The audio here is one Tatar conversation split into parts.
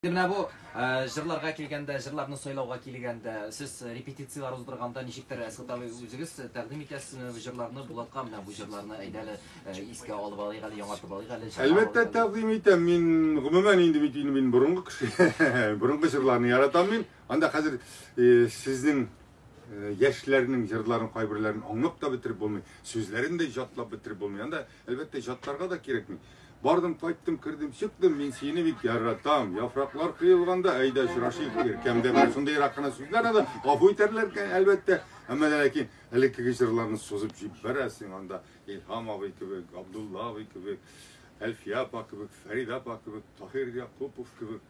Менә бу җырларга килгәндә, җырларны сайлауга килгәндә, сез репетицияләр уздырганда ничектер Әсгат абый үзегез тәкъдим итәсезме бу җырларны Булатка, менә бу җырларны әйдә әле искә алып алыйк әле, яңартып алыйк әле. Әлбәттә тәкъдим итәм. Мин гомумән инде бит инде мин борынгы кеше. Борынгы җырларны яратам мин. Анда хәзер сезнең яшьләрнең җырларын кайберләрен аңлап та бетереп булмый, сүзләрен дә җатлап бетереп булмый. Анда Әлбәттә, җатларга да кирәкми. Бардым, кайттым, кердем, чыктым, мин сине бик яратам. Яфраклар кыелганда, әйдә очрашыйк, иркәмдә бер шундыйрак кына сүзләр аны гафу итәрләр икән, әлбәттә. Әмма дә ләкин элеккеге җырларны сузып җибәрәсең анда. Илһам абый кебек, Абдулла абый кебек, Әлфия апа кебек, Фәридә апа кебек, Таһир Якупов кебек.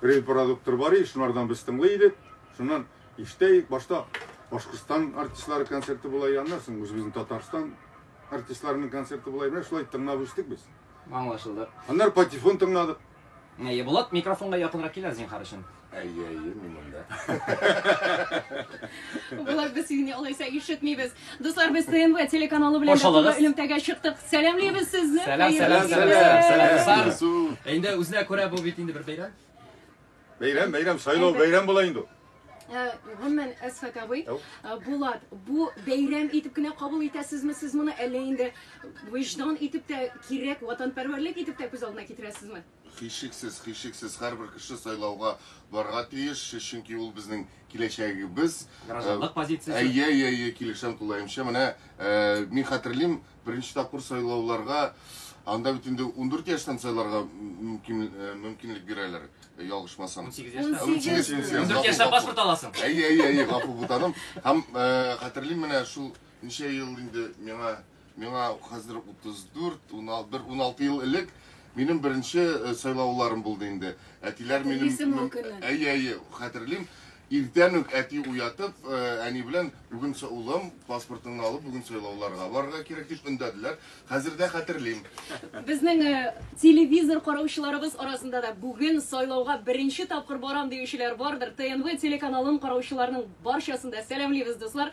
Бриль продукторы бар иде, шулардан без тыңлый идек. Шуннан ишетә идек, башта Башкортстан артистлары концерты була, аннан соң үзебезнең Татарстан артистларының концерты була. Менә шулай тыңлап үстек без. Аңлашылды. Аннары патефон тыңладык. Әйе, Булат, микрофонга якынрак кил зинхар өчен. Әйе, әйе, мин монда. Булат, без сине алайса ишетмибез. Дуслар, без ТНВ телеканалы белән Хош алдыгыз. бергә элемтәгә чыктык. Сәламлибез сезне. Сәлам, Хәерле сәлам, кичә. сәлам, сәлам, дуслар. Ису. Инде үзенә күрә бу бит инде бер бәйрәм. Бәйрәм, бәйрәм, сайлау бәйрәм була инде. Э, Гомумән, Әсхәт абый, Ау. э, Булат, бу бәйрәм итеп кенә кабул итәсезме сез моны, әллә инде виждан итеп тә кирәк, ватанпәрвәрлек итеп тә күз алдына китерәсезме? Һичшиксез, һичшиксез, һәрбер кеше сайлауга барырга тиеш, чөнки ул безнең киләчәгебез. Гражданлык позициясе. Әйе, әйе, әйе, килешәм тулаемча. Менә мин хәтерлим, беренче тапкыр сайлауларга анда бит инде 14 яшьтән сайларга мөмкинлек бирәләр, ялгышмасам. 18 яшьтән. 18 яшьтән. 14 яшьтән паспорт аласың. Әйе, әйе, әйе, гафу бутаным. Һәм хәтерлим, менә шул ничә ел инде миңа Миңа хәзер 34, бер 16 ел элек минем беренче э, сайлауларым булды инде. Әтиләр минем Әйе, әйе, хәтерлим. Иртән үк әти уятып, э, әни белән бүген улым паспортыңны алып, бүген сайлауларга барырга кирәк дип өндәделәр. Хәзер дә хәтерлим. Безнең э, телевизор караучыларыбыз арасында да бүген сайлауга беренче тапкыр барам диючеләр бардыр. ТНВ телеканалын караучыларның барчасын да сәламлибез, дуслар.